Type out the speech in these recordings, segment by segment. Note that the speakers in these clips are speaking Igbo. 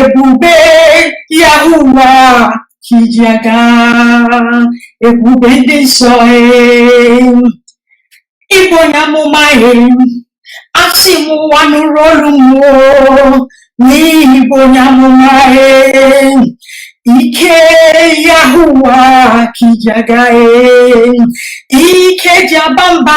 ebube Yahuwa ka i ji aga ebube ndị nsọ ị bụ onye amụma asị m ụwa nụrụ olu m o na ị bụ onye amụma ike Yahuwa ka i ji aga ike ji aba mba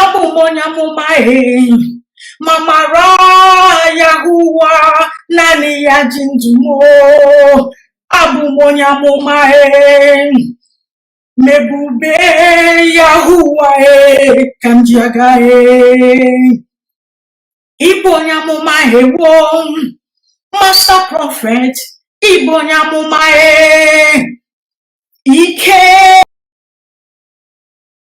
abụ m onye amụma e ma mara Yahuwa naanị ya ji ndụ m o. abụ m onye amụma e ma ebube Yahuwa e ka m ji aga e ị bụ onye amụma ewo master prophet ị bụ onye amụma e ike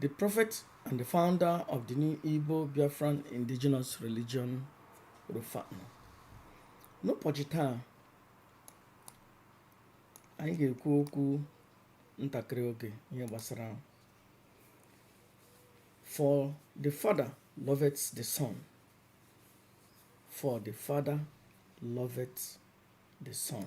The prophet and the founder of the new Igbo Biafran indigenous religion Rufa'an. N'ụbọchị taa, anyị ga-ekwu okwu ntakịrị oge ihe gbasara For the father loveth the son. For the father loveth the son.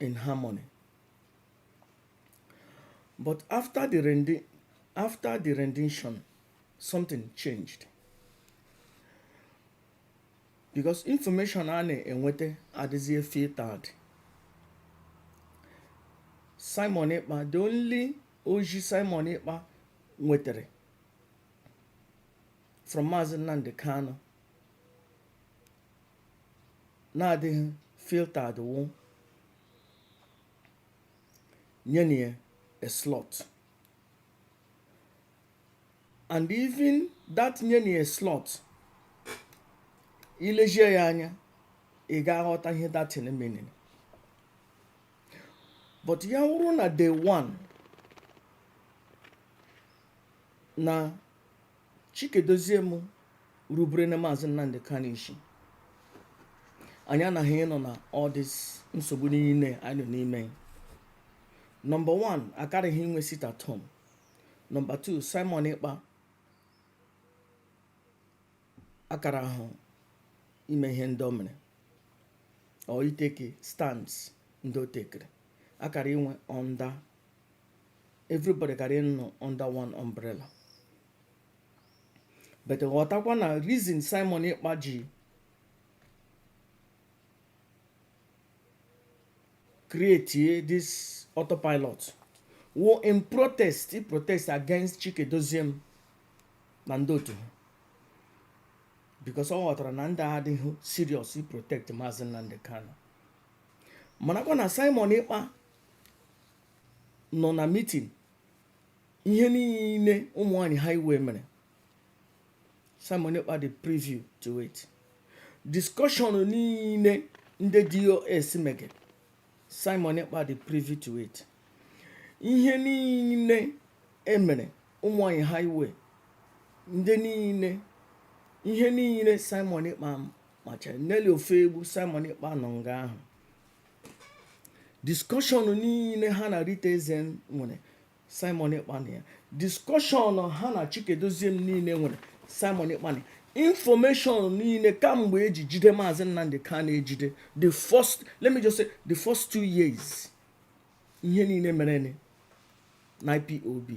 in harmony. But after the rendi- after the rendition, something changed. Because information a na-enwete adịzie filtered. Simon Ekpa, the only ozi Simon Ekpa nwetere from Maazị Nnamdi Kanu na-adịghị filtered wụ nyenụ ya a slot and even that nyenụ ya slot i lezie ya anya ị ga-aghọta ihe that thing meaning but ya wụrụ na day one na Chika Edoziem rubere na Maazị Nnamdi Kanu isi anyị anaghị ịnọ na all this nsogbu niile anyị nọ n'ime number 1 akaraghị inwe sit at home number 2 Simon Ekpa akarahụ ime ihe ndị o mere or itake stands ndị o takere akara inwe under everybody kara ịnọ under one umbrella but ghọtakwa na reason simon ekpa ji create this autopilot wụ in protest i protest against chika edoziem na ndị otu ha because ọ ghọtara na ndị a adịghị serious i protect maazị nnamdị kanu marakwa na simon ekpa nọ na meeting ihe niile ụmụ nwanyị highway mere simon ekpa dị privy to it discussion niile ndị DOS mege simon ekpa dị privy to it ihe niile emere ụmụ nwanyị highway ndị niile ihe niile simon ekpa macha nelly ofoegbu simon ekpa nọ nga ahụ discussion niile ha na Rita Eze nwere Simon Ekpa nọ ya discussion ha na Chika Edoziem niile nwere Simon Ekpa nọ information niile kamgbe eji jide maazị Nnamdi Kanu ejide the first let me just say the first two years ihe niile mere na IPOB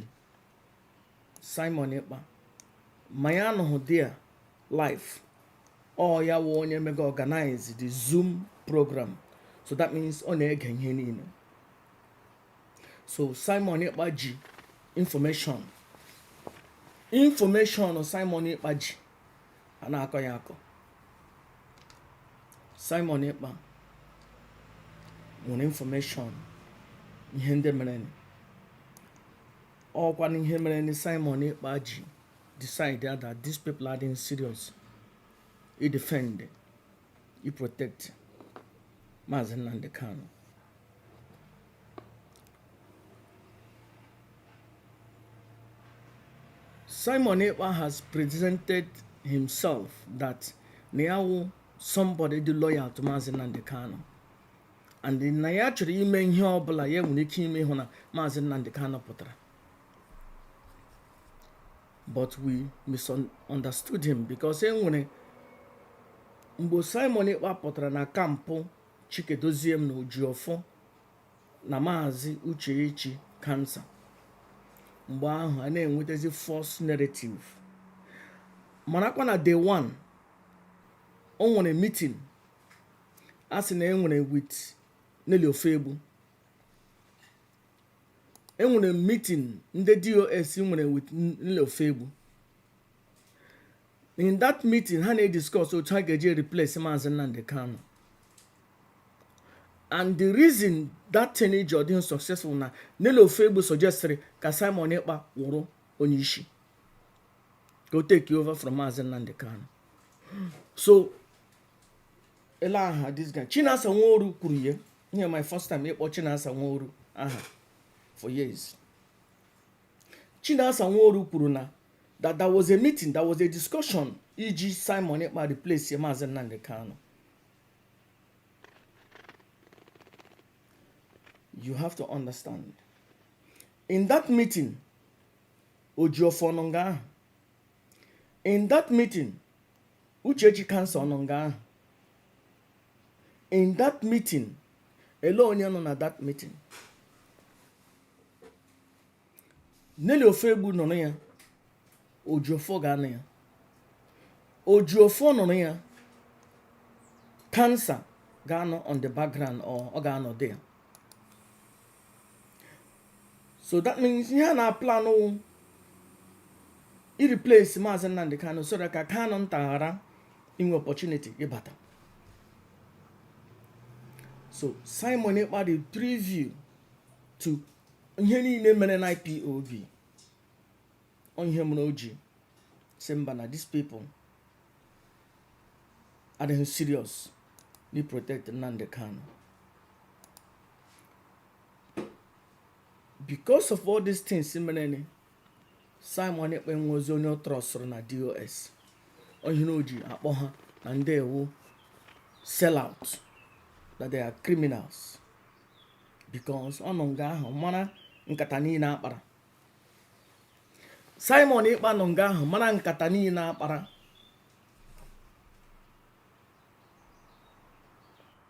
Simon Ekpa ma ya anọghị there live ọ ya wụ onye mega organize the zoom program so that means ọ na-ege ihe niile so Simon Ekpa ji information information Simon Ekpa ji a na-akọ ya akọ Simon Ekpa nwere information ihe ndị mere ọkwa na ihe mere na Simon Ekpa ji decide that these people adịghị serious i defend i protect Maazị Nnamdi Kanu Simon Ekpa has presented himself that na ya wụ somebody dị loyal to Maazị Nnamdi Kanu and na ya chọrọ ime ihe ọ bụla ya nwere ike ime ịhụ na maazị Nnamdi Kanu pụtara but we misunderstood him because e nwere mgbe Simon Ekpa pụtara na camp Chika Edoziem na Ejiofor na maazị Uchechi kansa mgbe ahụ a na-enwetazi false narrative marakwa na day one o nwere meeting a sị na enwere with Nelly Ofegbu enwere meeting ndị DOS nwere with Nelly Ofegbu in that meeting ha na-ediscuss otu ha ga-eji replace Maazị Nnamdi Kanu and the reason that thing ji adịghị successful na Nelly Ofegbu suggestiri ka Simon Ekpa wụrụ onye isi ka o take over from Maazị Nnamdi Kanu so ele aha this guy chinasa nworu kwuru ya ihe my first time ịkpọ chinasa nworu aha for years chinasa nworu kwuru na that there was a meeting there was a discussion iji simon ekpa replace maazị nnamdi kanu you have to understand in that meeting ojiofọ nọ nga ahụ in that meeting uchechi cancer ọ nọ nga ahụ in that meeting ele onye nọ na that meeting nelly ofegbu nọ na ya ojiofo ga-anọ ya ojiofo nọ na ya cancer ga-anọ on the background or ọ ga-anọ there so that means ihe a na-aplan wụ ireplace maazị Nnamdi Kanu so that ka Kanunta ghara inwe opportunity ịbata so Simon Ekpa dị privy to ihe niile mere na IPOB ọ ihe mere o ji sị mba na these people adịghị serious n'iprotect Nnamdi Kanu because of all these things mereni simon ekpa enwezi onye ọ trustụrụ na DOS ọ ihe o ji akpọ ha na ndị a wụ sell out that they are criminals because ọ nọ nga ahụ mara nkata niile a kpara simon ekpa nọ nga ahụ mara nkata niile a kpara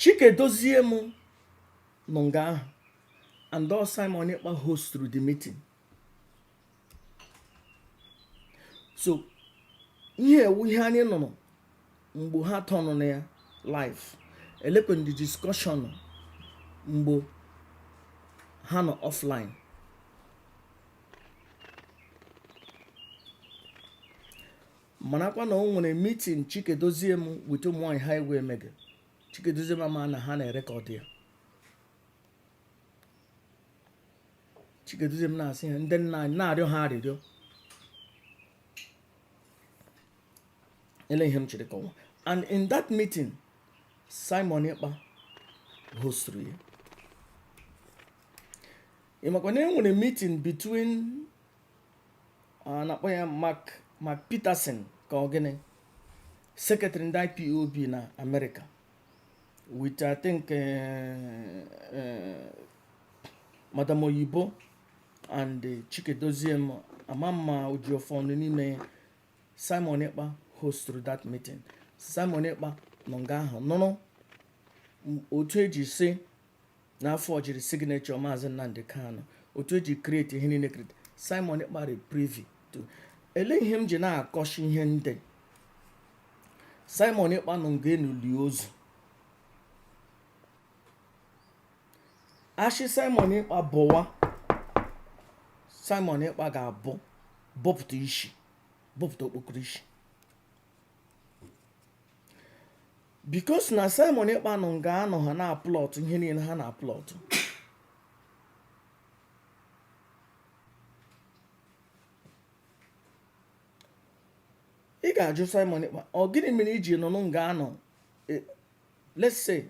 chika edoziem nọ nga ahụ and ọ simon ekpa hostụrụ the meeting so ihe a wụ ihe anyị nụrụ mgbe ha turn on ya live elekwenụ the discussion mgbe ha nọ offline marakwa na o nwere meeting chika edoziem with ụmụnwaanyị ha egwu emege chika edoziem ama na ha na-erekọdụ ya chika edoziem na-asị ha ndị nna anyị na-arịọ ha arịrịọ ele ihe m chịrị kọwa and in that meeting simon ekpa hostụrụ ya ị makwa na e nwere meeting between a na-akpọ ya Mark Mark Peterson ka ọ gịnị secretary ndị IPOB na Amerịka with I think eh, eh, Madam Oyibo and eh, Chika Edoziem ama m ma Ejiofor nọ n'ime ya. Simon Ekpa hostụrụ that meeting Simon Ekpa nọ nga ahụ nụrụ m- otu eji si na-afọjiri signature maazị nnamdị kanu otu eji kreti ihe niile kreti simon ekpa rị privy to ele ihe m ji na-akọshi ihe ndị simon ekpa nọ nga a nọ lie ozu a shị simon ekpa bọwa simon ekpa ga-abọ bọpụta isi bọpụta okpokoro isi because na simon ekpa nọ nga anọ ha na-aplọt ihe niile ha na-aplọt ị ga-ajụ simon ekpa ọ gịnị mere i ji nọ nọ nga anọ eh, let's say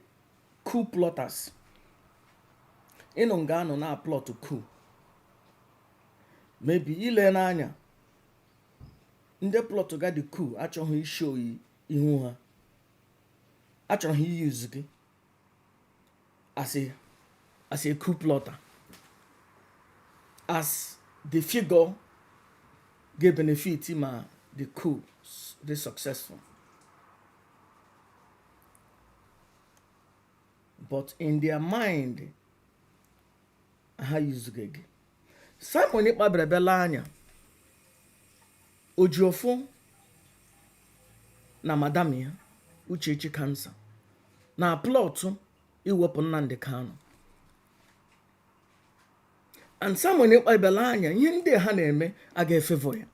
coup plotters ị nọ nga anọ na-aplọt coup maybe ile n'anya ndị plọtga the coup achọghị ishow ihu ha achọrọ ha iyuz gị as a as a coup plotter as the figure ga-benefit ma the coup dị successful but in their mind ha yuzuga gị Simon Ekpa bere bela anya Ejiofor na madam ya Uchechi Kansa na plọtụ iwepụ Nnamdi Kanu and Simon Ekpa bere anya ihe ndị ha na-eme a ga-efevọ ya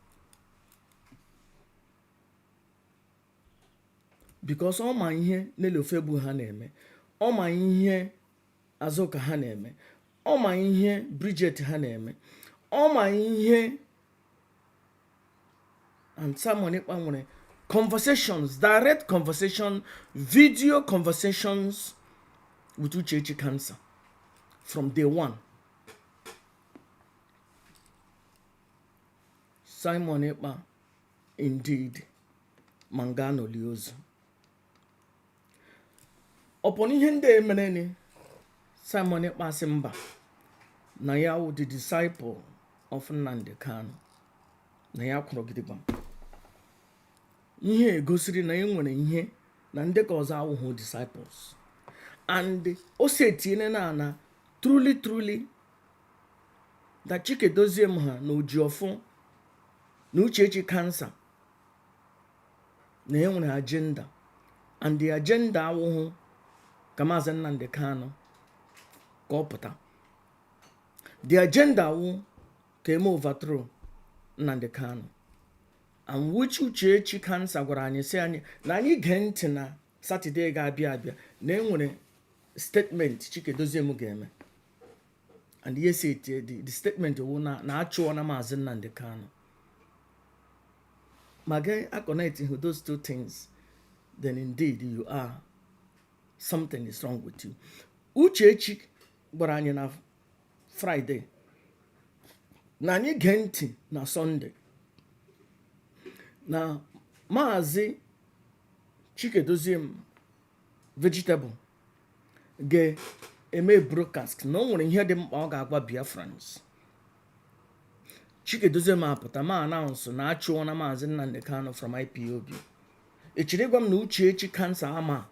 because ọ ma ihe Nelly Ofoegbu ha na-eme ọ ma ihe Azụka ha na-eme ọ ma ihe Bridget ha na-eme ọ ma ihe and Simon Ekpa nwere conversations direct conversation video conversations with Uchechi cancer from day one Simon Ekpa indeed ma nga a nọ lie ozu upon ihe ndị a emereni simon ekpa sị mba na ya wụ the disciple of nnamdi kanu na ya kwụrụ gidigba ihe egosiri na e nwere ihe na ndị ka ọzọ awụhụ disciples and o si etinyere na ana truly truly that chika edoziem ha na ejiofor na uchechi cancer na e nwere agenda and the agenda awụhụ ka maazị Nnamdi Kanu ka ọ pụta the agenda wụ ka eme overthrow Nnamdi Kanu and which Uchechi cancer gwara anyị sị anyị na anyị gee ntị na Saturday ga-abịa abịa na enwere statement Chika Edoziem ga-eme and yes it eh, the, the statement wụ na na achụọna maazị Nnamdi Kanu ma gị aconnectihụ those two things then indeed you are something is wrong with you Uchechi gwara anyị na Friday na anyị gee ntị na Sunday na maazị Chika Edoziem vegetable ga-eme broadcast na o nwere ihe dị mkpa ọ ga-agwa biafrans chika edoziem apụta ma announce na achụọna maazị nnamdi kanu from ipob echere gwa m na uchechi cancer ama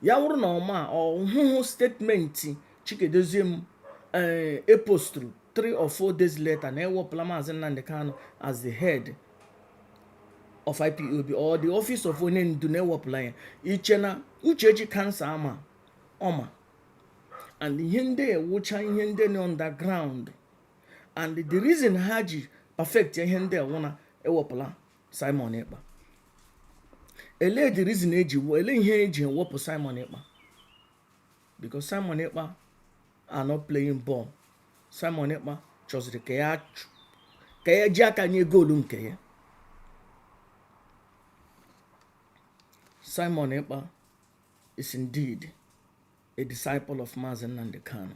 ya wụrụ na ọ ma ọ hụhụ statement chika edoziem postụrụ 3 or 4 days later na ewepụla maazị nnamdi kanu as the head of ipob or the office of onye ndu na ewepụla ya i che na uchechi cancer ama ọ ma and ihe ndị a wụcha ihe ndị nọ underground and the reason ha ji perfect ihe ndị a wụ na ewepụla simon ekpa ele the reason eji ele ihe eji ewepụ simon ekpa because simon ekpa are not playing ball Simon Ekpa chọziri ka ya ka ya ji aka nye goolu nke ya Simon Ekpa is indeed a disciple of Mazi Nnamdi Kanu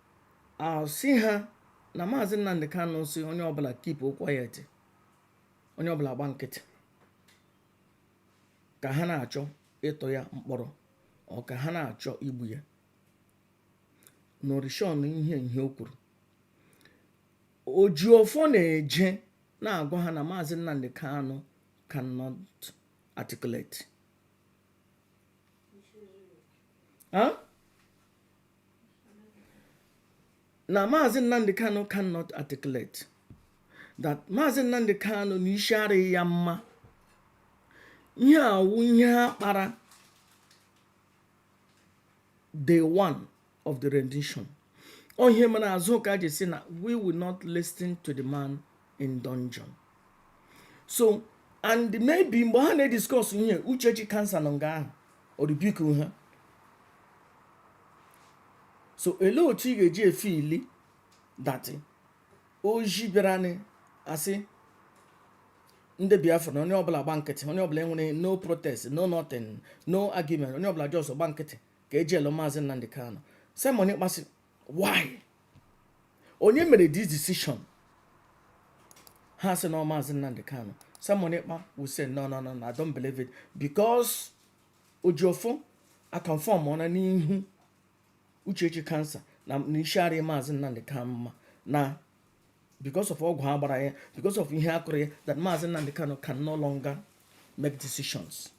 a sị ha na maazị Nnamdi Kanu sị onye ọbụla keep quiet onye ọbụla gba nkịtị ka ha na-achọ ịtụ ya mkpọrọ ọ ka ha na-achọ igbu ya n'orishon ihe ihe o kwuru Ejiofor na-eje na-agwa ha na maazị Nnamdi Kanu cannot articulate na maazị Nnamdi Kanu cannot articulate that maazị Nnamdi Kanu na isi arịghị ya mma ihe a wụ ihe ha kpara day one of the rendition ọ ihe mere Azụka ji sị na we will not listen to the man in dungeon so and maybe mgbe ha na-ediscuss ihe Uchechi Cancer nọ nga ahụ ọ rebuke ha so olee otu ị ga-eji efeel that oji bịara na-asị ndị biafra na onye ọbụla gba nkịtị onye ọbụla enwere no protest no nothing no argument onye ọbụla just gba nkịtị ka e jailụọ maazị Nnamdi Kanu Simon Ekpa sị why onye mere this decision ha sị na maazị Nnamdi Kanu Simon Ekpa will say no no no no I don't believe it because Ejiofor aconfirmọna n'ihu Uchechi Cancer na isi arịghị maazị Nnamdi Kanu mma na because of ọgwụ ha gbara ya because of ihe a kụrụ ya that maazị Nnamdi Kanu can no longer make decisions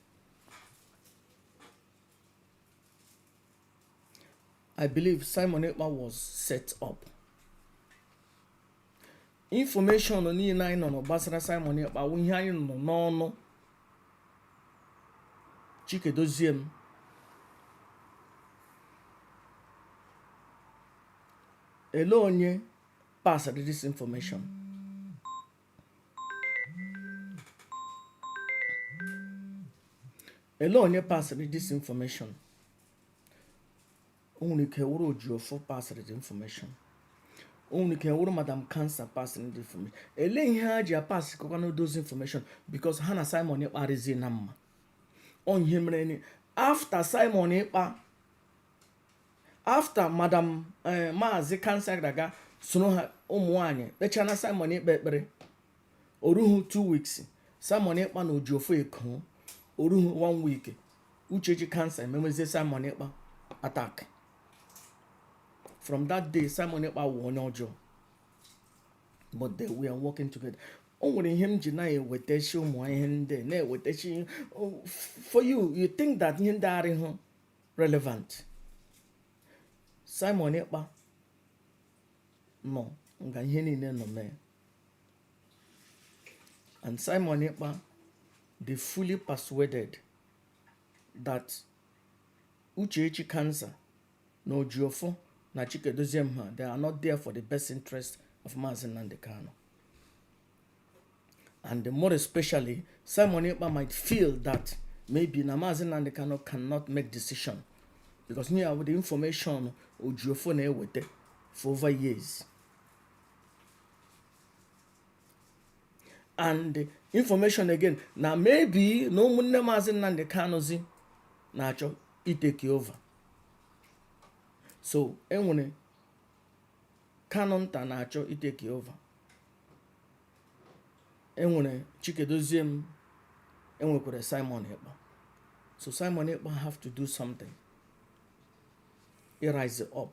I believe Simon Ekpa was set up. Information niile anyị nụrụ gbasara Simon Ekpa wụ ihe anyị nụrụ n'ọnụ Chika Edoziem ele onye pasịrị this information ele onye pasịrị this information o nwere ike wụrụ Ejiofor pasịrị the information o nwere ike wụrụ madam Cancer pasịrị the information ele ihe ha ji apasị kọkwanụ those information because ha na Simon Ekpa arịzi na mma ọ ihe mere na after Simon Ekpa after madam eh, maazị Cancer gara aga soro ha ụmụ nwanyị kpechana Simon Ekpa ekpere oruhu two weeks Simon Ekpa na Ejiofor Eko oruhu one week Uchechi Kanu ememezie Simon Ekpa attack from that day Simon Ekpa wụ onye ọjọọ but they were working together o nwere ihe m ji na-ewetachi ụmụ ihe ndị na-ewetachi for you you think that ihe ndị arịhụ relevant Simon Ekpa nọ nga ihe niile nọ mee And Simon Ekpa, they fully persuaded that Uchechi cancer, no Jiofor, na Chikedozie Mha, they are not there for the best interest of Mazi Nnamdi Kanu. And more especially, Simon Ekpa might feel that maybe na Mazi Nnamdi Kanu cannot make decision because near with the information Ojiofor na-eweta for over years. and the information again na maybe na ụmụnne maazị Nnamdi Kanuzi na-achọ iteki over so enwere Kanunta na-achọ iteki over enwere Chika Edoziem enwekwara Simon Ekpa so Simon Ekpa have to do something he rise up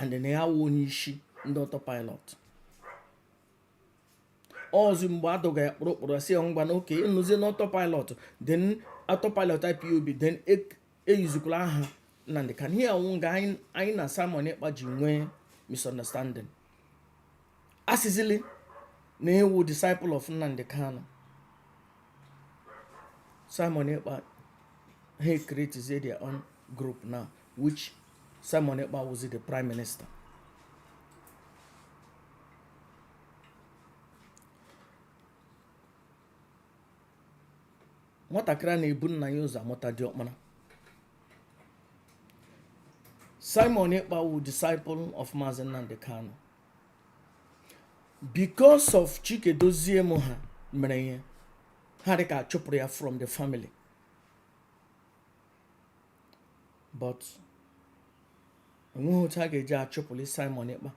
and na ya wụ onye isi ndị autopilot ọọzị mgbe adọga ya kpụrụ kpụrụ sị ya ngwanụ okay ị nọzie na autopilot then autopilot IPOB then eyuzikwala aha Nnamdi Kanu ihe a wụ nga anyị na Simon Ekpa ji nwee misunderstanding asịzili na ị wụ disciple of Nnamdi Kanu Simon Ekpa ha create their own group now which Simon Ekpa wụzi the prime minister. nwatakịrị a na-ebu nna ya ụzọ amụta diọkpara Simon Ekpa wụ disciple of Mazi Nnamdi Kanu because of Chika Edoziem ha mere ihe ha dị ka chụpụrụ ya from the family but enweghị otu a ga-eji achụpụli Simon Ekpa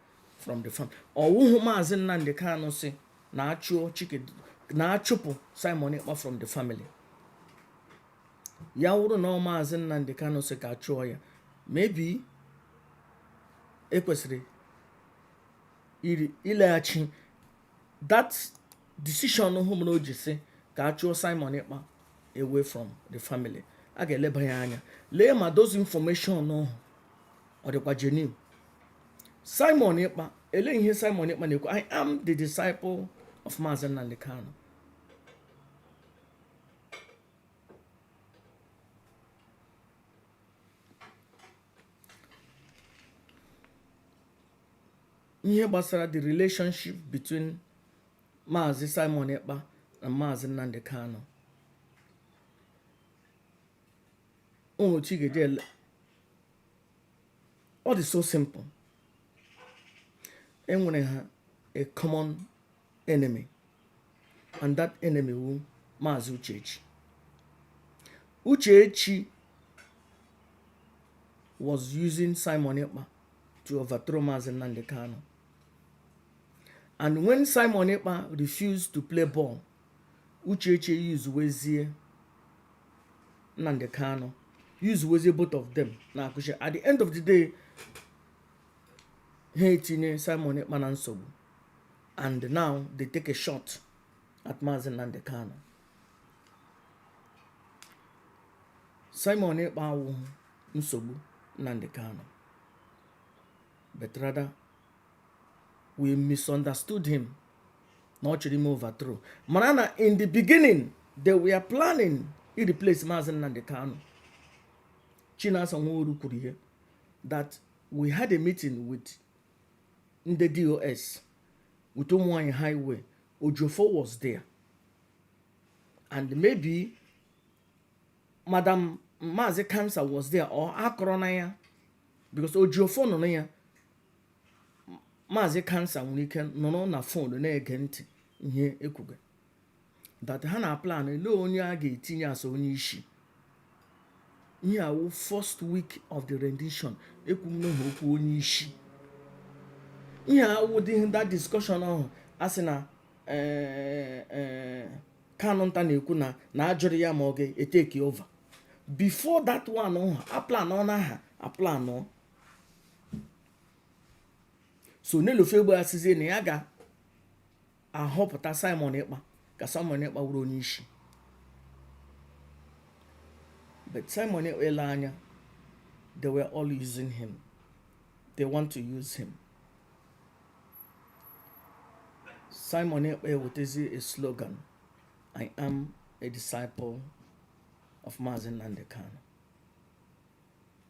from the family ọ wụhụ maazị Nnamdi Kanu sị na a chụọ Chike na a chụpụ Simon Ekpa from the family ya wụrụ na ọ wụ maazị Nnamdi Kanu sị ka a chụọ ya maybe ekwesịrị ileghachi that decision hụ mere o ji sị ka a chụọ Simon Ekpa away from the family a ga-eleba ya anya lee ma those information ọhụ ọ dịkwa genuine Simon Ekpa ele ihe Simon Ekpa na-ekwu I am the disciple of Maazị Nnamdi Kanu ihe gbasara the relationship between Maazị Simon Ekpa and Maazị Nnamdi Kanu ụmụ chi ga-eji ele ọ dị so simple enwere ha a common enemy and that enemy wụ maazị uchechi uchechi was using simon ekpa to overthrow maazị nnamdị kanu and when simon ekpa refused to play ball uchechi usewezie nnamdị kanu usewezie both of them na-akụ isi at the end of the day ha etinye simon ekpa na nsogbu and now they take a shot at Mazi Nnamdi Kanu. Simon Ekpa awụghị nsogbu Nnamdi Kanu but rather we misunderstood him na ọ chọrọ ime overthrow mara na in the beginning they were planning ireplace Mazi Nnamdi Kanu Chinasa Nworu kwuru ya that we had a meeting with ndị DOS with ụmụnwaanyị highway ejiofor was there and maybe madam maazị kansa was there or akọrọ na ya because ejiofor nọ na ya maazị kansa nwere ike nọrọ na fon na-ege ntị ihe ekwuga that ha na-aplan ele onye a ga-etinye as onye isi ihe a wụ first week of the rendition ekwuwana ha okwu onye isi ihe a wụ that discussion ahụ a sị na eh, eh, kanụnta na-ekwu na na a jụrụ ya ma ọ ga-etake over before that one ha aplanọna ha aplanọ so nelly ofoegbu asịzie na ya ga ahọpụta Simon Ekpa ka Simon Ekpa wụrụ onye isi but Simon Ekpa ele anya they were all using him they want to use him Simon Ekpa ewetezi a slogan I am a disciple of Mazi Nnamdi Kanu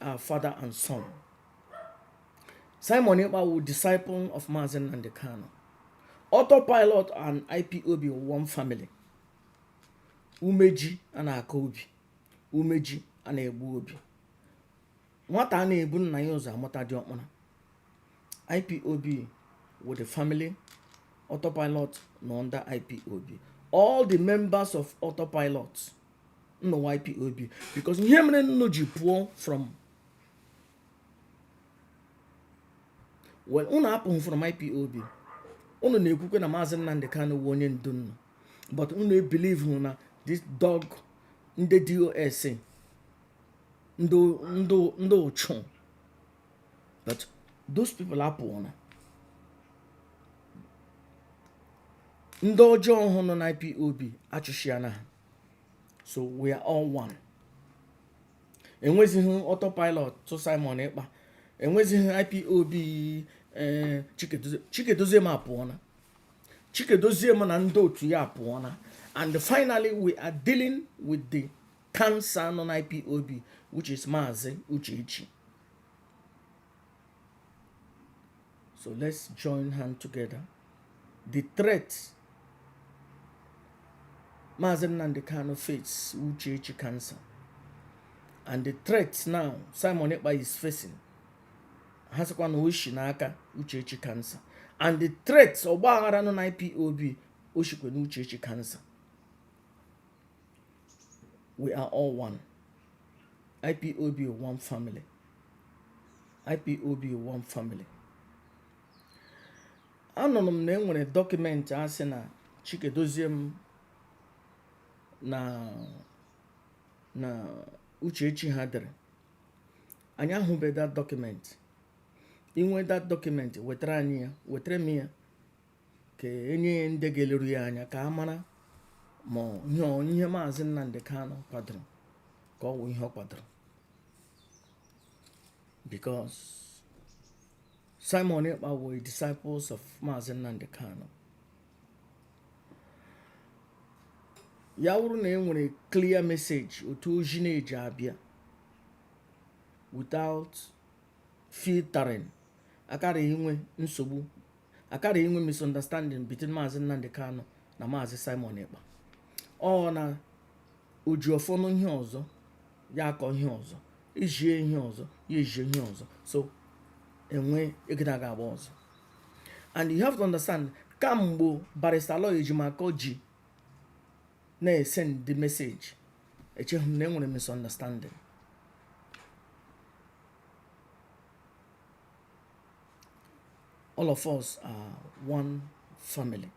our father and son. Simon Ekpa was disciple of Mazen and the Kano. Autopilot and IPOB were one family. Umeji and Akobi. Umeji and Ebuobi. Nwata a na-ebu nna ya ụzọ amụta dị ọkpara. IPOB with the family. Autopilot nọ under IPOB. All the members of Autopilot nọ IPOB because ihe mere unu ji pụọ from well unu apụghị from IPOB unu na-ekwukwe na maazị Nnamdi Kanu wụ onye ndu unu but unu ebelieve na this dog ndị DOS ndị uchu but those people apụọna ndị ọjọọ ahụ nọ na IPOB achụchịa na ha so we are all one enwezighị autopilot to Simon Ekpa enwezighị IPOB eh, Chika Edoziem apụọna Chika Edoziem na ndị otu ya apụọna and finally we are dealing with the cancer nọ na IPOB which is Maazị Uchechi So let's join hand together. The threat Mazi Nnamdi Kanu faces Uchechi cancer. And the threat now Simon Ekpa is facing ha sịkwa na o shi n'aka Uchechi cancer. And the threat ọgba aghara nọ na IPOB o shikwa na Uchechi cancer. we are all one ipob one family ipob one family anụrụ m na e nwere document a sị na Chika Edoziem na Uchechi ha dere anyị ahụbeghị that document i nwee that document wetara anyị ya wetara m ya ka e nye ya ndị ga-eleru ya anya ka a mara ma ihe maazị Nnamdi Kanu kwadoro ka ọ wụ ihe ọ kwadoro because Simon Ekpa wụ disciples of maazị Nnamdi Kanu ya wụrụ na e nwere clear message otu ozi na-eji abịa without filtering akara inwe nsogbu akara inwe misunderstanding between maazị Nnamdi Kanu na maazị Simon Ekpa ọ na Ejiofor nụ ihe ọzọ ya akọọ ihe ọzọ e zie ihe ọzọ ya ezie ihe ọzọ so enwe egide aga agba ọzọ and you have to understand kamgbe barrister Aloy Ejimakor ji na-esend the message echeghị m na enwere misunderstanding all of us are one family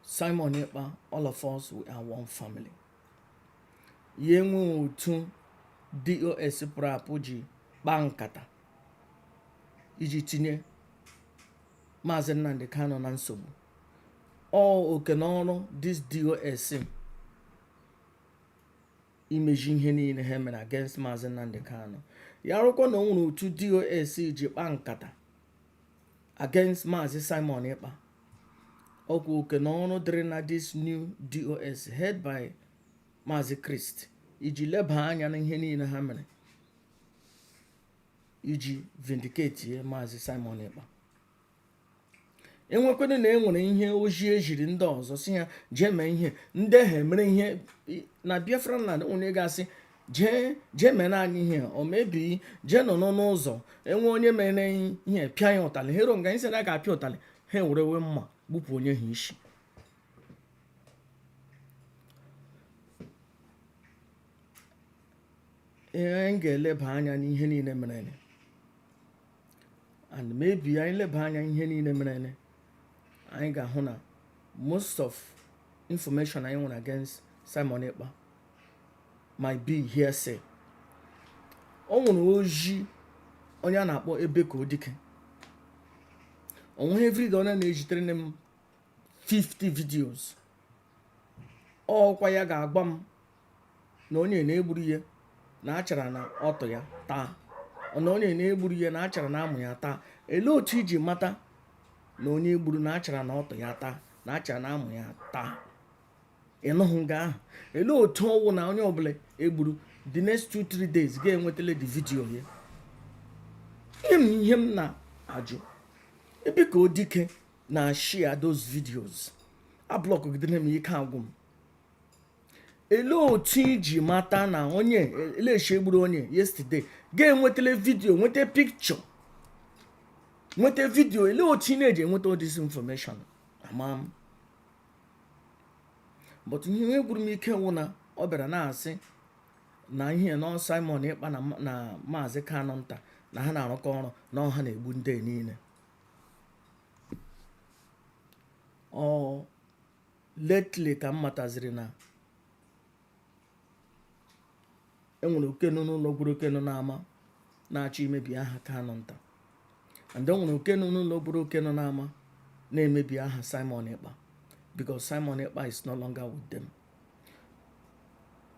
Simon Ekpa all of us we are one family ya enwee otu DOS pụrụ apụ ji kpaa nkata iji tinye Maazị Nnamdi Kanu na nsogbu ọ oke na ọrụ this DOS imezi ihe niile ha mere against Maazị Nnamdi Kanu ya rụkwa na o nwere otu DOS ji kpaa nkata against Maazị Simon Ekpa ọkwa oke na ọrụ dịrị na this new DOS head by Maazị Chris iji leba anya na ihe niile ha mere iji vindicate maazị Simon Ekpa enwekwena na e nwere ihe ozi eziri ndị ọzọ sị ha jee mee ihe ndị ha mere ihe na Biafra land onye ga-asị jee jee mere anyị ihe o mebi jee nọ n'ọnụ ụzọ enwe onye mere ihe pịa ya ụtalị ha eruo nga anyị sị na a ga-apịa ụtalị ha ewerewe mma gbupụ onye ahụ isi ihe anyị ga-eleba anya n'ihe niile mere and maybe anyị leba anya ihe niile mere anyị ga-ahụ na most of information anyị nwere against Simon Ekpa might be hearsay o nwere ozi onye a na-akpọ Ebekuo Dike onweghị everyday ọ na-ezitere m 50 videos ọ wụkwa ya ga-agwa m na onye na-egburu ihe na achara na ọtụ ya taa na onye na-egburu ihe na achara na amụ ya taa elee otu iji mata na onye egburu na achara na ọtụ ya taa na achara na amụ ya taa ị nọhụ nga ahụ elee otu ọ wụ na onye ọbụla egburu the next two three days ga-enwetala the video ya ihe m ihe m na-ajụ Ebekuo Dike na-share those videos a block gidere m ike agwụ m ele otu iji mata na onye eleshi egburu onye yesterday ga-enwetala video nweta picture nweta video ele otu ị na-eji enweta all this information ama m but ihe gwụrụ m ike wụ na ọ bịara na-asị na ihe na ọ Simon Ekpa na maazị Kanu nta na ha na-arụkọ ọrụ na ọ ha na-egbu ndị niile ọ lately ka m mataziri na enwere oke nọ n'ụlọ gwara oke nọ n'ama na-achọ imebi aha Kanu nta and enwere oke nọ n'ụlọ gwara oke nọ n'ama na-emebi aha Simon Ekpa because Simon Ekpa is no longer with them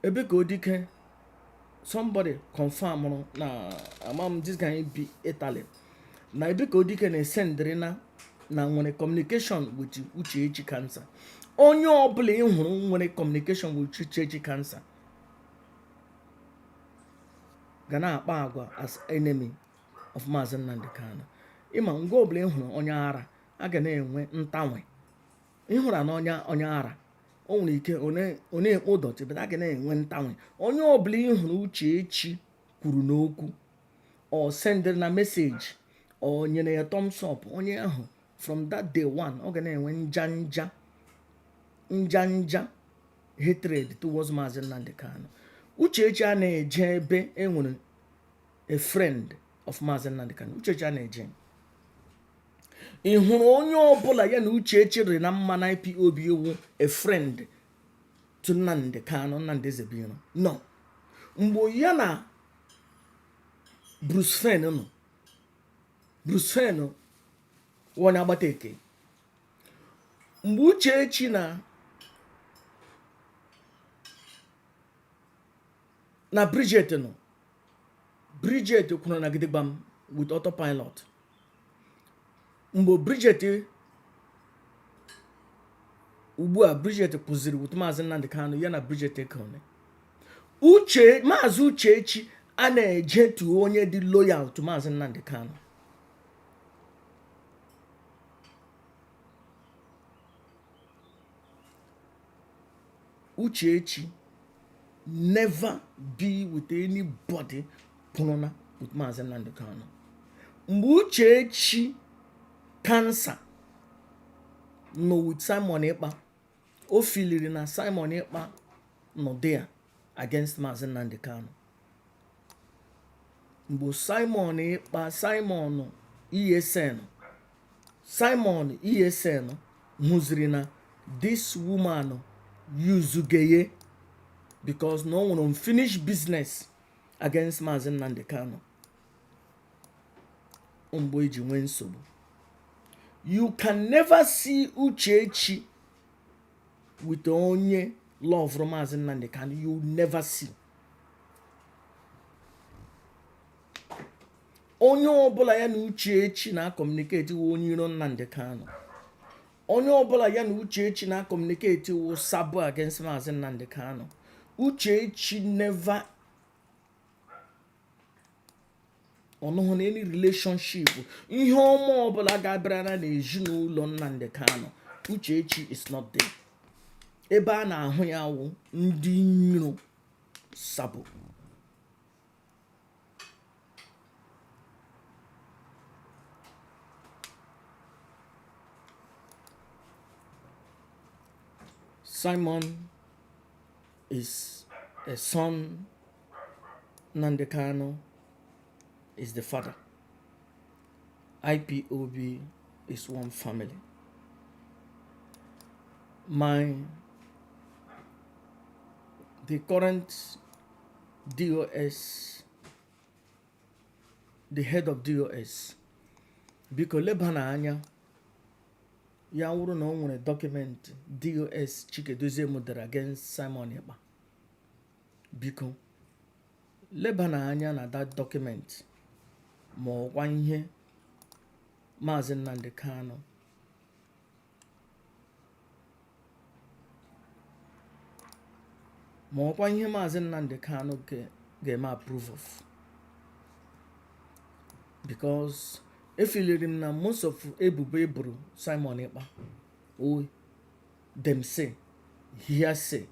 Ebekuo Dike somebody confirmrụ na ama m this guy bi Italy na Ebekuo Dike na-esendịrị na na nwere communication with uchechi cancer onye ọbụla ị hụrụ nwere communication with uchechi cancer ga na-akpa agwa as enemy of maazị Nnamdị Kanu ị ma nga ọbụla ị hụrụ onye ara a ga na-enwe ntanwe ị hụrụnụ onye ara o nwere ike ọ na-ekpo dọtị but a ga na-enwe ntanwe onye ọbụla ị hụrụ Uchechi kwuru n'okwu or sendịrị na message or nyere ya thumbs up onye ahụ from that day one ọ ga na-enwe nja nja nja nja hatred towards Maazị Nnamdi Kanu Uchechi a na-eje ebe e nwere a friend of Maazị Nnamdi Kanu Uchechi a na-eje ị hụrụ onye ọbụla ya na Uchechi rị na mma na IPOB wụ a friend to Nnamdi Kanu Nnamdi Ezebiro no mgbe ya na Bruce Fein nọ Bruce Fein wụ onye agbata ekee mgbe Uchechi na Bridget nọ Bridget kwụrụna gidigbam with autopilot mgbe Bridget ugbu a Bridget kwụziri with maazị Nnamdi Kanu ya na Bridget ekone maazị Uchechi a na-eje to onye dị loyal to maazị Nnamdi Kanu Uchechi never be with anybody kwụrụna with Maazị Nnamdi Kanu mgbe Uchechi kansa nọ with Simon Ekpa o filiri na Simon Ekpa nọ there against Maazị Nnamdi Kanu mgbe Simon Ekpa Simon ESN Simon ESN hụziri na this woman yuzuga ya because na o nwere unfinished business against Maazị Nnamdi Kanu mgbe e ji nwee nsogbu you can never see Uchechi with onye lọvụrụ Maazị Nnamdi Kanu you never see onye ọbụla ya na Uchechi na-akọmuniketi wụ onye iro Nnamdi Kanu onye ọbụla ya na Uchechi na-akọmuniketi wụ sabo against Maazị Nnamdi Kanu Uchechi never ọ nọghị na any relationship ihe ọma ọbụla ga-abịara na ezinụlọ Nnamdi Kanu Uchechi is not there ebe a na-ahụ ya wụ ndị iro sabo Simon is a son Nnamdi Kanu is the father IPOB is one family my the current DOS the head of DOS biko lebana anya ya wụrụ na ọ nwere document DOS Chika Edoziem dere against Simon Ekpa Biko, lebana anya na that document ma ọ wụkwa ihe Maazị Nnamdi Kanu ga-eme approve of because efiliri m na most of ebubo e boro Simon Ekpa ọ wụ dem say hearsay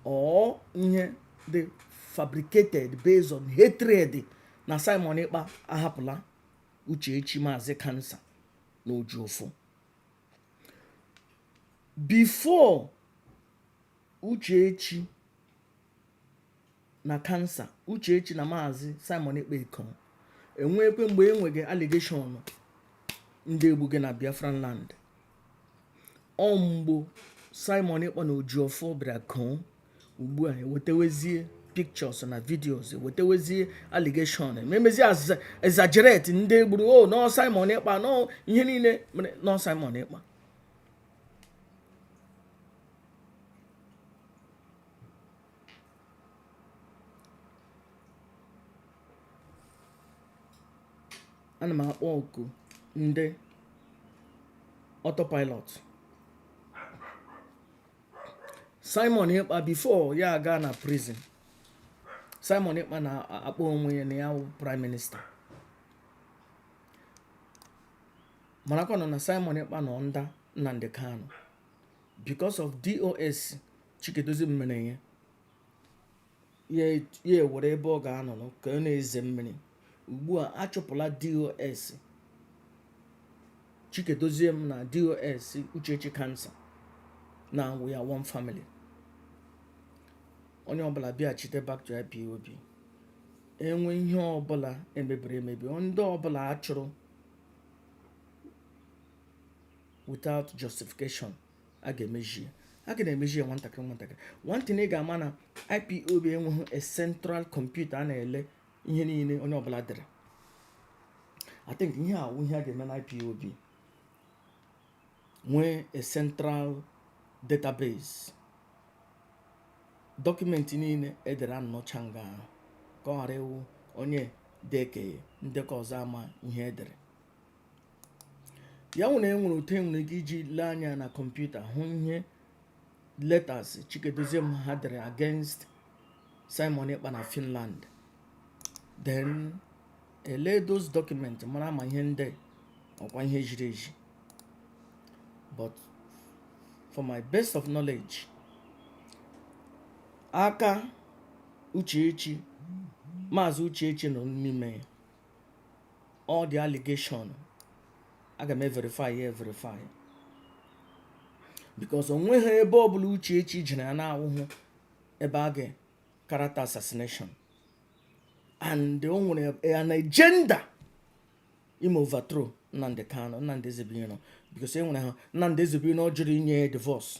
or ihe they fabricated based on hatred na Simon Ekpa ahapụla Uchechi Maazị Kansa na Ejiofor before Uchechi na kansa uchechi na maazị Simon Ekpa ịkọ enwekwe mgbe e nwege allegation ndị e gbuge na biafran land ọ mgbe Simon Ekpa na Ejiofor bịara kọọ ugbu a ewetewezie pictures na videos ewetewezie allegation ememezi exaggerate ndị e gburu o, na ọ Simon Ekpa na ihe niile mere na ọ Simon Ekpa ana m akpọ oku ndị autopilot Simon Ekpa before ya aga na prison Simon Ekpa na-akpọ onwe ya na ya wụ prime minister marakwanụ na Simon Ekpa nọ under Nnamdi Kanu because of DOS Chika Edoziem mere ya ya ewere ebe ọ ga-anọrọ ka ọ na-eze mmiri ugbu a achụpụla DOS Chika Edoziem na DOS Uchechi Kansa now we are one family onye ọbụla bịachite back to IPOB enwe ihe ọbụla emebiri emebi ndị ọbụla achụrụ without justification a ga-emezi ya a ga na-emezi ya nwantakịrị nwantakịrị one thing ị ga-ama na IPOB enweghị a central computer a na-ele ihe niile onye ọbụla dere I think ihe a wụ ihe a ga-eme na IPOB nwee a central database document niile edere anọcha nga ahụ ka ọ ghara ịwụ onye dekenye ndekọ ọzọ ama ihe edere ya nwere e nwere otu enwere ike iji lee anya na kọmputa hụ ihe letters chika edoziem ha dere against simon ekpa na finland then ele those documents mara ma ihe ndị ọkwa ihe ziri ezi but for my best of knowledge aka uchechi maazị uchechi nọ n'ime ya all the allegation a ga-eme verify ya verify because onweghị ebe ọbụla Uchechi jere ya na-awụhụ ebe a ga character assassination and o nwere an agenda ime overthrow Nnamdi Kanu Nnamdi Ezebuiro because e nwere ha Nnamdi Ezebuiro jụrụ inye ya divorce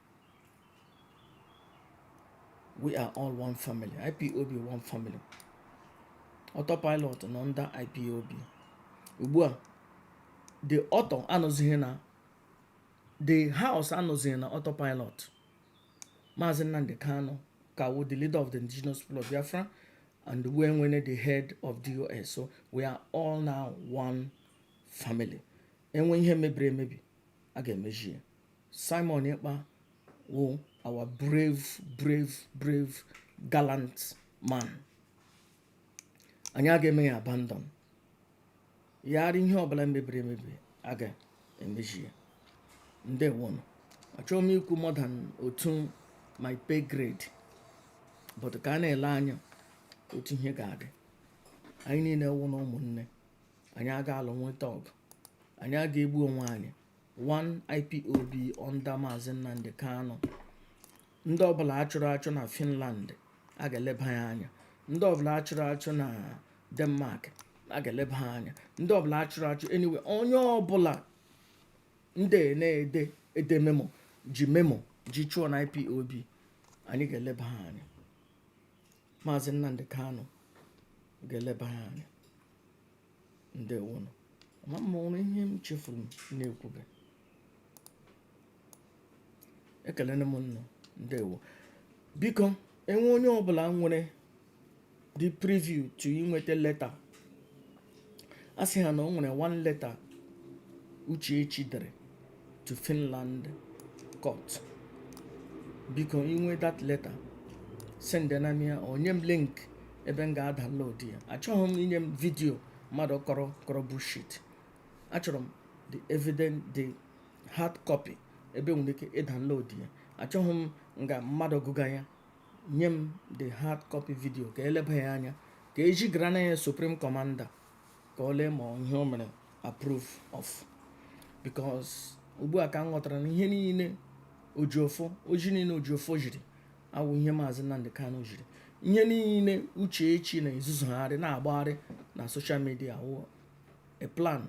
we are all one family ipob one family autopilot nọ under ipob ugbu a the auto anọzighị na the house anọzighị na autopilot maazị nnamdị kanụ ka wụ the leader of the indigenous people of biafra and e nwere the head of dos so we are all now one family e nwee ihe mebiri emebi a ga-emezi ya Simon Ekpa wụ our brave brave brave gallant man anyị aga eme ya abandon ya rị ihe ọbụla mebiri emebi a ga-emezi ya ndewonụ achọghị m ikwu more than otu my pay grade but ka a na-ele anya otu ihe ga-adị anyị niile wụ nụ ụmụnne anyị aga alụ nweta ọgụ anyị aga egbu onwe anyị one ipob under maazị nnamdị kanụ ndị ọbụla achụrụ achụ na finland a ga-eleba ya anya ndị ọbụla achụrụ achụ na denmark a ga-eleba ha anya ndị ọbụla achụrụ achụ anywhere onye ọbụla ndị na-ede ede memo ji memo ji chụọ na ipob anyị ga-eleba ha anya maazị nnamdị kanụ ga-eleba ha anya ndewonụ ma m hụrụ ihe m chefuru m na-ekwube ekelene m ụnụ ndewo biko enwe onye ọbụla nwere the preview to inweta letter a sị ha na o nwere one letter Uchechi dere to Finland court biko i nwee that letter send na m ya or nye m link ebe m ga-adownload ya achọhụ m i nye m video mmadụ kọrọ kọrọ bullshit achọrọ m the evidence the hard copy ebe e nwere ike ịdownload ya achọhụ m nga mmadụ gụga ya nye m the hard copy video ka e leba ya anya ka e zigara na ya supreme commander ka o lee ma ihe o mere approve of because ugbu a ka m ghọtara na ihe niile Ejiofor oji niile Ejiofor jiri awụ ihe maazị Nnamdi Kanu jiri ihe niile Uchechi na-ezuzugharị na-agbagharị na social media awụ a plan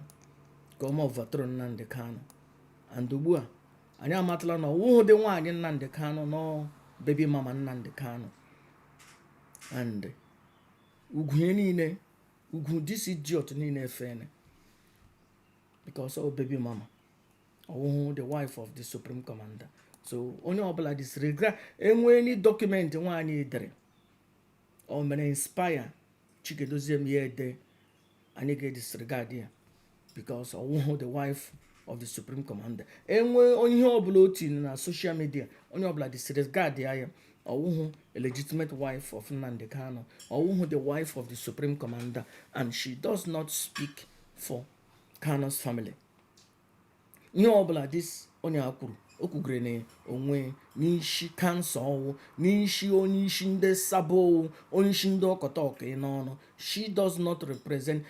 ka o mee overthrow Nnamdi Kanu and ugbu a anyị amatala na ọwụhụ dị nwaanyị Nnamdi Kanu na ọ baby mama Nnamdi Kanu and ugwu ya niile ugwu this idiot niile efene because ọ baby mama ọwụhụ the wife of the supreme commander so onye ọbụla disregard enwe any document nwaanyị a dere o mere inspire Chika Edoziem ya ede anyị ga-edisregard ya because ọwụhụ the wife of the supreme commander enwe onye ihe ọbụla o tiri na social media onye ọbụla disregard ya ọwụhụ a legitimate wife of Nnamdi Kanu ọwụhụ the wife of the supreme commander and she does not speak for Kanu's family ihe ọbụla this onye a kwuru o kwugere na onwe n'ishi cancer ọwụ n'ishi onye isi ndị sabo ọwụ onye isi ndị ọkọta ọka n'ọnụ she does not represent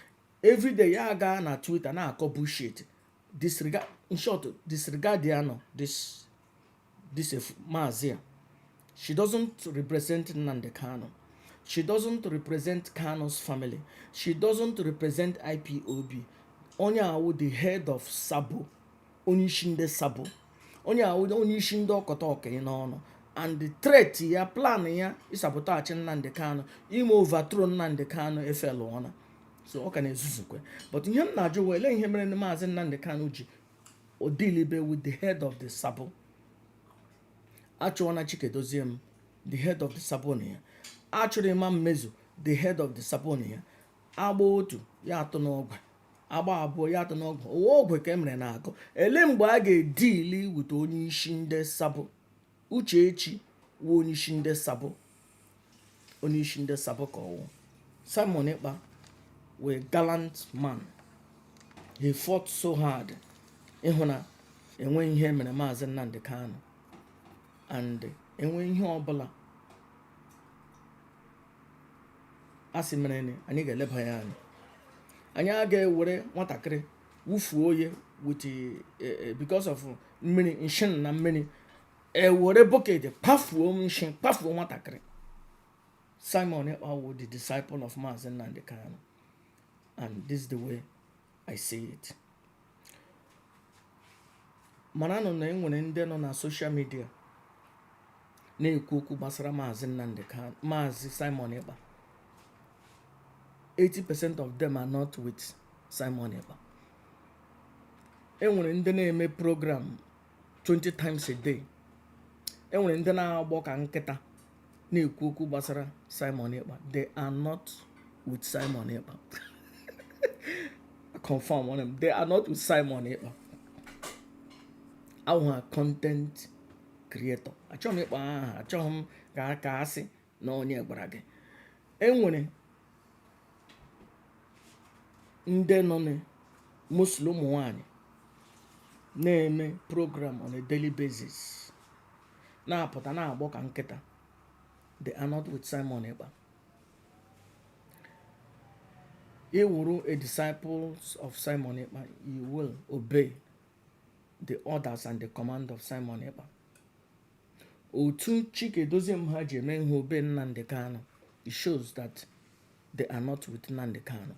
everyday ya aga na twitter na-akọ bullshit disregard in short disregard ya nọ this this a f- maazị a she doesn't represent Nnamdi Kanu she doesn't represent Kanu's family she doesn't represent IPOB onye a wụ the head of Sabo onye isi ndị Sabo onye a wụ onye isi ndị ọkọta ọka n'ọnụ and the threat ya plan ya ịsabotage Nnamdi Kanu ime overthrow Nnamdi Kanu efailụọna so ọ ka na-ezuzukwa but ihe m na-ajụ wụ ele ihe mere na maazị Nnamdi Kanu jihụ dealibe with the head of the sabo achụọna Chika Edoziem the head of the sabo na ya a chụrụ Emma Nmezu the head of the sabo na ya agba otu ya atụ n'ogwe agba abụọ ya atụ n'ogwe ọwụ ogwe ka e mere na akụ ele mgbe a ga-edeal with onye isi ndị sabo uchechi wụ onyeisi ndị sabo onyeisi ndị sabo ka ọwụ simon ekpa wụ a gallant man he fought so hard ịhụ na enwe ihe mere maazị nnamdị kanu and enwe ihe ọbụla a sị merenụ anyị ga-eleba ya anya anyị aga-ewere nwatakịrị wufuo ya with eh, eh, because of mmiri nshin na mmiri ewere bucket pafuo nshin pafuo nwatakịrị simon ekpa wụ the disciple of maazị nnamdị kanu and this is the way i see it maranụ na enwere ndị nọ na social media na-ekwu okwu gbasara maazị nnamdị kanu maazị simon ekpa 80% of them are not with Simon Ekpa enwere ndị na-eme program 20 times a day enwere ndị na-agbọ ka nkịta na-ekwu okwu gbasara Simon Ekpa they are not with Simon Ekpa confirm on them they are not with Simon Ekpa a wụ ha content creator achọghị m ịkpọ aha achọghị m ka asị na onye gwara gị enwere ndị nọnụ mostly ụmụ nwanyị na-eme program on a daily basis na-apụta na-agbọ ka nkịta they are not with Simon Ekpa ị wụrụ a disciples of Simon Ekpa you will obey the orders and the command of Simon Ekpa otu Chika Edoziem ha ji emeghị obey Nnamdi Kanu it shows that they are not with Nnamdi Kanu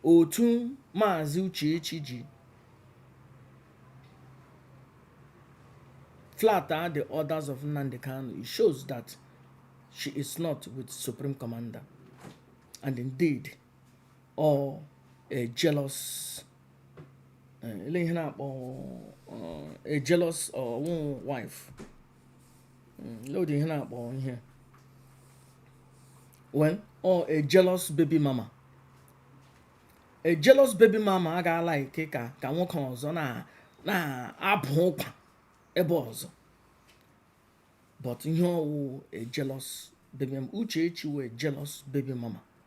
otu maazị Uchechi ji flout the orders of Nnamdi Kanu. It shows that she is not with Supreme Commander. And indeed, ọọ a jealous eh, ele ihe na-akpọ eh, a jealous ọwụ wife hmm, ele ụdị ihe na-akpọ ihe well ọọ a jealous baby mama a jealous baby mama aga a-like ka ka nwoke ọzọ na-abụ ụkwa ebe ọzọ but ihe ọwụ a jealous baby mama uchechi wụ a jealous baby mama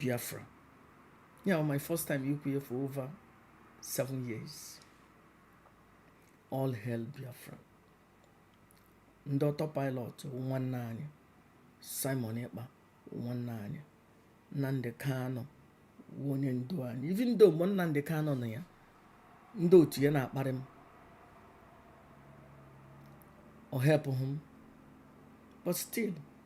Biafra. Yeah, my first time ikwu ya for over seven years. All hail Biafra. Ndị autopilot nwanne anyị Simon Ekpa nwanne anyị Nnamdi Kanu onye ndu anyị even though mgbe Nnamdi Kanu nọ ya ndị otu ya na-akparị m ọ helpụghị m but still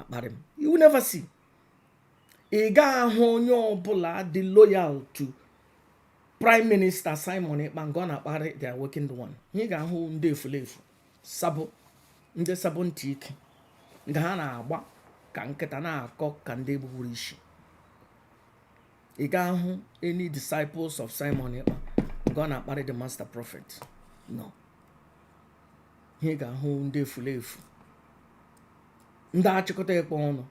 akparị m you will never see ị gaghị ahụ onye ọbụla dị loyal to prime minister simon ekpa nke ọ na-akparị the awakened one ihe ị ga-ahụ ndị efulefu sabo ndị sabo ntị ike nke ha na-agba ka nkịta na-akọ ka ndị gbugburu isi ị gaghị ahụ any disciples of simon ekpa nke ọ na-akparị the master prophet no ihe ị ga-ahụ ndị efulefu ndị achịkọta ekwe ọnụ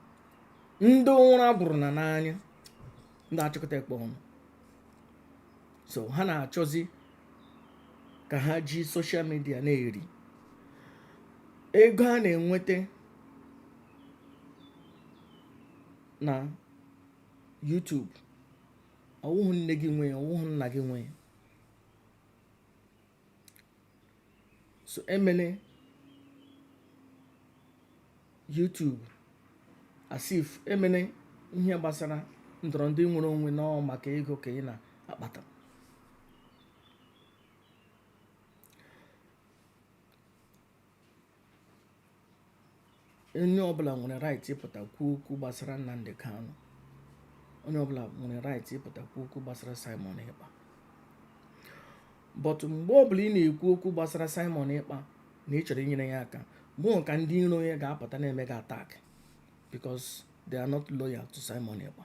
ndị ụra gwụrụ na n'anya ndị achịkọta ekwe ọnụ so ha na-achọzi ka ha ji social media na-eri ego a na-enweta na YouTube ọ wụhụ nne gị nwee ọ wụhụ nna gị nwee so emene YouTube as if emene ihe gbasara ndọrọ ndị nwere onwe na ọ wụ maka ego ka ị na-akpata onye ọbụla nwere right ịpụta kwuo okwu gbasara Nnamdi Kanu onye ọbụla nwere right ịpụta kwuo okwu gbasara Simon Ekpa but mgbe ọbụla ị na-ekwu okwu gbasara Simon Ekpa na ị chọrọ inyere ya aka mgbe ahụ ka ndị iro ya ga-apụta na-eme gị attack because they are not loyal to Simon Ekpa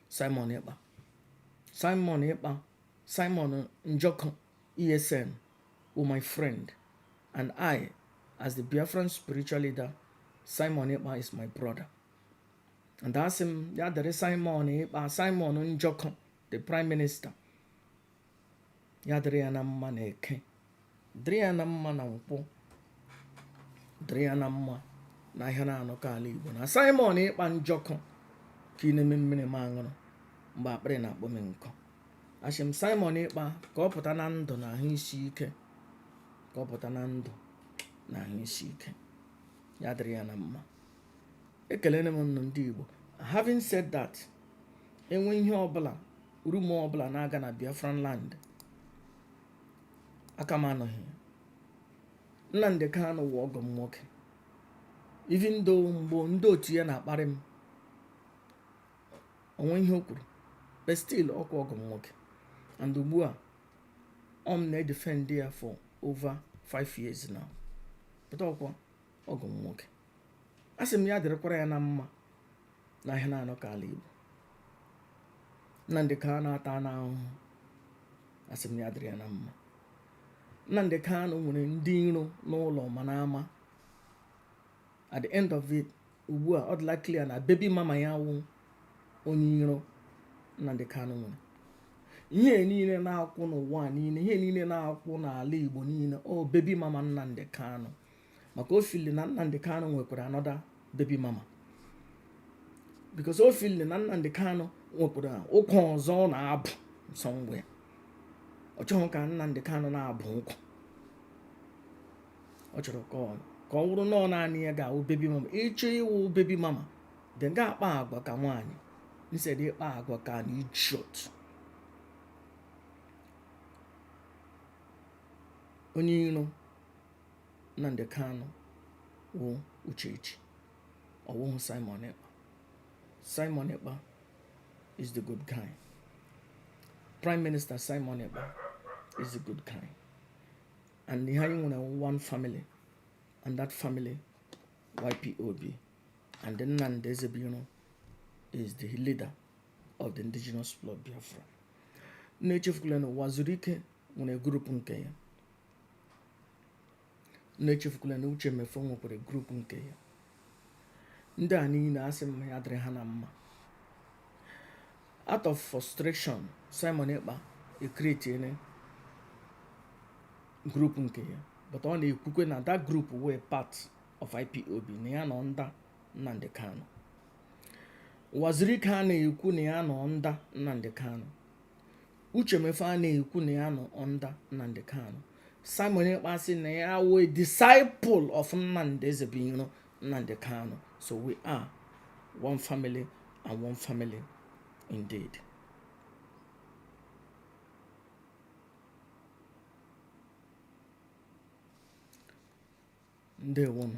Simon Ekpa Simon Ekpa Simon Njoko ESN were my friend and I as the Biafran spiritual leader Simon Ekpa is my brother and asị m ya dịrị Simon Ekpa Simon Njoko the prime minister ya dịrị ya na mma na eke dịrị ya na mma na nkwọ dịrị ya na mma na ahịa na anọ kwụ ala igbo na simon ekpa njoku kunyere m mmiri m aṅụrụ mgbe akpịrị na-akpọ m nkụ asị m simon ekpa ka ọ pụta na ndụ na ahụ isi ike ka ọ pụta na ndụ na ahụ isi ike ya dịrị ya na mma ekelere m nnụ ndị igbo having said that enwe ihe ọbụla rumor ọbụla na-aga na biafran land aka m anọghị ya nnamdị kanụ wụ ọgọ m nwoke even though mgbe ndị otu ya na-akparị m o nwe ihe o kwuru but still ọkwa ọgọ m nwoke and ugbu a ọ m na-edefend ya for over 5 years now but ọkwa ọgọ m nwoke a sị m ya dịrịkwara ya na mma na ihe na-anọ ka ala Igbo Nnamdị Kanu atana ahụhụ a sị m ya dịrị ya na mma Nnamdị Kanu nwere ndị iro n'ụlọ ma n'ama at the end of it ugbu a ọ dịla clear na baby mama ya wụ onye iro Nnamdị Kanu nwere ihe niile na-akụ n'ụwa niile ihe niile na-akụ n'ala Igbo niile ọ baby mama Nnamdị Kanu maka o feel na Nnamdi Kanu nwekwara another baby mama because o feel na Nnamdi Kanu nwekwara ụkwụ ọzọ ọ na-abụ somewhere ọ chọghị ka Nnamdi Kanu na-abụ ụkwụ ọ chọrọ ka ọ wụrụ na ọ naanị ya ga-awụ baby mama ị chọọ ịwụ baby mama then ga akpa agwa ka nwaanyị instead ịkpa agwa ka an idiot onye iro Nnamdi Kanu wụ Uchechi ọ wụhụ Simon Ekpa Simon Ekpa is the good guy Prime Minister Simon Ekpa is the good guy and anyị nwere one family and that family wụ IPOB and Nnamdi Ezebuiro is the leader of the indigenous people of Biafra unu echefukwala na Uwazuruike nwere group nke ya unu echefukwala na uche mefor nwekwara group nke ya ndị a niile asị m ya dịrị ha na mma out of frustration simon ekpa ecreatiene group nke ya but ọ na-ekwukwe na that group wụ part of ipob na ya nọ under nnamdị kanụ uwazuruike a na-ekwu na ya nọ under nnamdị kanụ uche mefor a na-ekwu na ya nọ under nnamdị kanụ simon ekpa sị na ya wụ a disciple of nnamdị ezebuiro nnamdị kanụ so we are one family and one family indeed ndewonụ